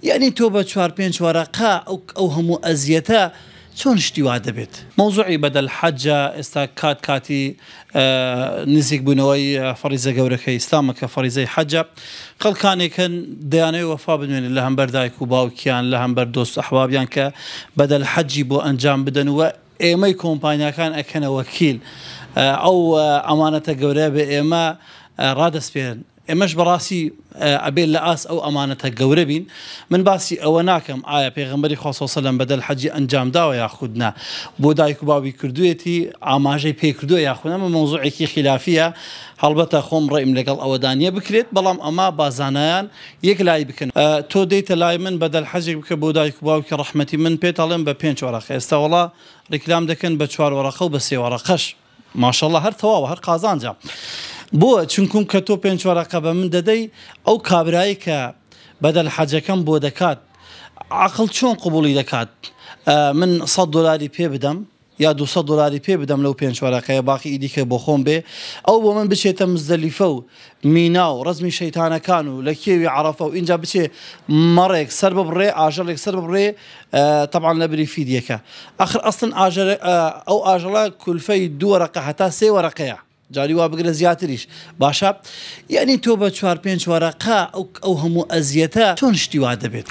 یەعنی تۆ بە چوار پێنج وەرەقە ئەو هەموو ئەزیەتە چۆن شتی وا دەبێت. مەوزوعی بەدەل حەجە ئێستا کات کاتی نزیک بونەوەی فەڕیزە گەورەکەی ئیسلامە کە فەڕیزەی حەجە خەڵکانێک هەن دەیانەوێت وەفا بنوێنن لە هەمبەر دایک و باوکیان لە هەمبەر دۆست ئەحبابیان کە بەدەل حەجی بۆ ئەنجام بدەن و ئێمەی کۆمپانیاکان ئەکەنە وەکیل ئەو ئەمانەتە گەورەیە بە ئێمە ڕادەسپێرن ئێمەش بەڕاستی ئەبێ لە ئاست ئەو ئەمانەتە گەورە بین، من باسی ئەوە ناکەم ئایا پێغەمبەری خوا صلی سلم بەدەل حەجی ئەنجام داوە یاخود نا، بۆ دایک و باوی کردوویەتی، ئاماژەی پێ کردووە یاخود نا، ئەمە مەوزوعێکی خیلافییە، هەڵبەتە خۆم ڕەئیم لەگەڵ ئەوەدا نییە بکرێت، بەڵام ئەمە با زانایان یەک لای بکەن، تۆ دێیتە لای من بەدەل حەجێک بکە بۆ دایک و باوکی ڕەحمەتی من پێت ئەڵێم بە پێنج وەرەقە ئێستا وەڵا ڕیکلام دەکەن بە چوار وەرەقە و بە سێ وەرەقەش. ماشااللە هەر تەواوە هەر قازانجە بۆ چونکوم کە تۆ پێنج وەرەقە بە من دەدەی ئەو کابرایی کە بەدەل حەجەکەم بۆ دەکات عقڵ چۆن قبوڵی دەکات من سەد دۆلاری پێ بدەم یا دو سەد دۆلاری پێ بدەم لەو پێنج وەرەقەیە باقی ئیدیکە بۆ خۆم بێ ئەو بۆ من بچێتە مزدەلیفە و مینا و ڕزمی شەیتانەکان و لە کێوی عەرەفە و ئینجا بچێ مەڕێک سەر ببڕێ ئاژەڵێک سەر ببڕێ تەبعەن لەبری فیدیەکە. ئەخر ئەسلەن ئاژەرە ئەو ئاژەڵە کولفەی دوو وەرەقە هەتا سێ وەرەقەیە. جاری وا بگرە زیاتریش باشە یعنی تۆ بە چوار پێنج وەرەقە ئەو هەموو ئەزیەتە چۆن شتی وا دەبێت.